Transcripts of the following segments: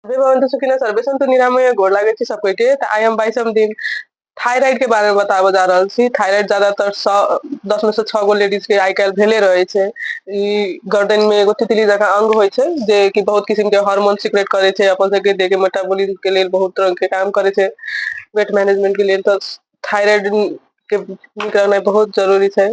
अभी भवन तो सुखिना सर्वे संतु निरामय गोड़ लागे छी सब के त आई एम बाई सम दिन थायराइड के बारे में बताबो जा रहल छी थायराइड ज्यादातर दस में से छह गो लेडीज के आई काल्हि भेले रहे छै ई गर्दन में एगो तितली जकाँ अंग होइ छै जे कि बहुत किस्म के हार्मोन सिक्रेट करे छै अपन सबके देह के मेटाबॉलिज्म के लेल बहुत तरह के काम करे छै वेट मैनेजमेंट के लेल तो थायराइड के निकलना बहुत जरूरी छै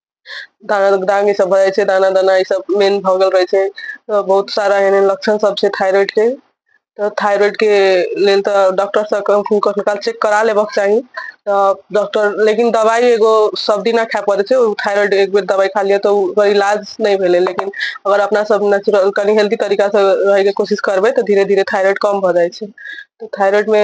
दाना दाग ई सब भए जाइ छै दाना दाना ई सब मेन भऽ गेल रहै छै तऽ बहुत सारा एहन एहन लक्षण सब छै थाइरॉइड के तऽ थाइरॉइड के लेल तऽ डॉक्टर सब कखनो काल चेक करा लेबक चाही तऽ डॉक्टर लेकिन दवाइ एगो सब दिना खाय पड़ै छै ओ थाइरॉइड एक बेर दवाइ खा लिअ तऽ ओकर इलाज नहि भेलै लेकिन अगर अपना सब नेचुरल कनि हेल्दी तरीका से रहैके कोशिश करबै तऽ धीरे धीरे थाइरॉइड कम भऽ जाइ छै तऽ थाइरॉइड मे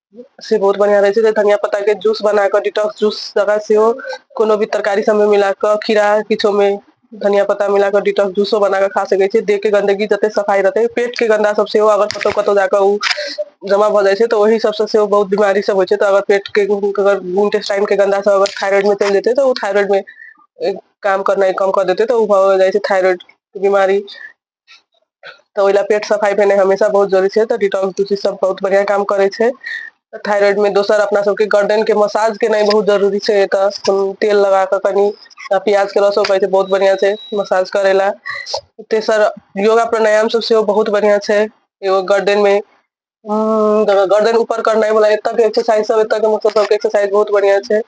से बहुत बढ़िया रहे छै धनिया पत्ता के जूस बना के डिटॉक्स जूस जगह से हो कोनो भी तरकारी सब में मिला के खीरा किछो में धनिया पत्ता मिला के डिटॉक्स जूसो बना के खा सके छी देह के गंदगी जते सफाई रहते पेट के गंदा सब से हो अगर कतो कतो जाके उ जमा भ जाय छै तो वही सब से बहुत बीमारी सब हो छै तो अगर पेट के अगर इंटेस्टाइन के गंदा सब अगर थायराइड में चल जेते तो उ थायराइड में काम करना कम कर देते तो उ भ जाय छै थायराइड बीमारी तऽ ओहि लए पेट सफाइ भेनाइ हमेशा बहुत जरूरी छै तऽ डिटोल तुलसी सब बहुत बढ़िआँ काम करै छै थाइरइड मे दोसर अपना सबके गर्दन के मसाज केनाइ बहुत जरूरी छै एतऽ तेल लगा कऽ कनि आ प्याज के रसो कहै छै बहुत बढ़ियां छै मसाज करै लए तेसर योगा प्राणायाम सब सेहो बहुत बढ़ियां छै एगो गर्दन मे हम्म, तऽ गर्दन ऊपर करनाइ वाला एतऽ के एक्सरसाइज सब एतऽ के मतलब सबके एक्सरसाइज बहुत बढ़िया छै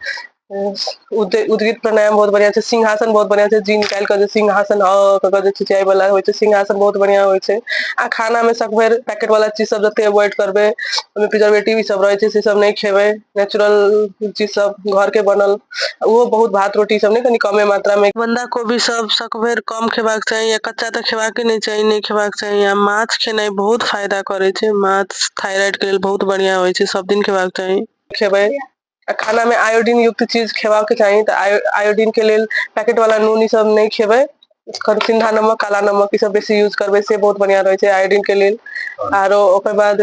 उद- उद्गीत प्राणायाम बहुत बढ़िया छै सिंहासन बहुत बढ़िया छै जी निकालि कऽ जे सिंहासन अ कऽ कऽ जे खिंचाइ वाला होइ छै सिंहासन बहुत बढ़िया होइ छै आ खाना मे सब बेर पैकेट वाला चीज सब जते अवॉइड करबै ओहिमे प्रिजर्वेटिव ई सब रहै छै से सब नहि खेबै नेचुरल चीज सब घर के बनल ओहो बहुत भात रोटी सब ने कनी कमे मात्रा में बंदा कोबी सब सकभर कम खेबाक चाही या कच्चा तऽ खेबाक नहि चाही नहि खेबाक चाही या माछ खेनाइ बहुत फायदा करे छै माछ थायराइड के लेल बहुत बढ़िया होय छै सब दिन खेबाक चाही खेबै आ खाना में आयोडीन युक्त चीज खेबाक चाही तऽ आयोडीन के लेल पैकेट वाला नून ई सब नहि खेबै सिंधा नमक काला नमक ई सब बेसी यूज करबै से बहुत बढ़िया रहे छै आयोडीन के लेल आरो ओकर बाद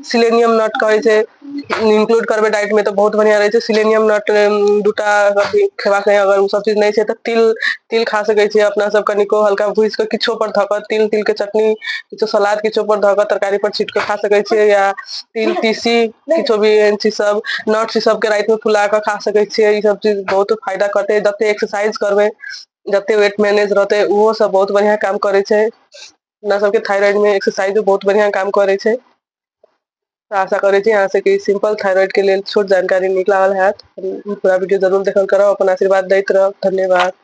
सिलेनियम नट कहै छै इंक्लूड करबै डाइट मे तऽ बहुत बढ़िया रहै छै सिलेनियम नट दूटा अथी खेबाक चाही अगर ओ सब चीज नहि छै तऽ तिल तिल खा सकै छियै अपना सब कनिको हल्का भूजि कऽ किछो पर धऽ कऽ तिल तिल के चटनी किछो सलाद किछो पर धऽ कऽ तरकारी पर छीट कऽ खा सकै छियै या तिल तीसी किछो भी एहन चीज सब नट्स ई सब के राति मे फुला कऽ खा सकै छियै ई सब चीज बहुत फायदा करतै जते एक्सरसाइज करबै जते वेट मैनेज रहतै ओहो सब बहुत बढ़िया काम करै छै अपना सबके थायराइड में एक्सरसाइज बहुत बढ़िया काम करे छै तो आशा करे छी अहाँ सबके सिंपल थायराइड के लिए छोट जानकारी निकलाल है पूरा वीडियो जरूर देखल करब अपन आशीर्वाद दैत रहब धन्यवाद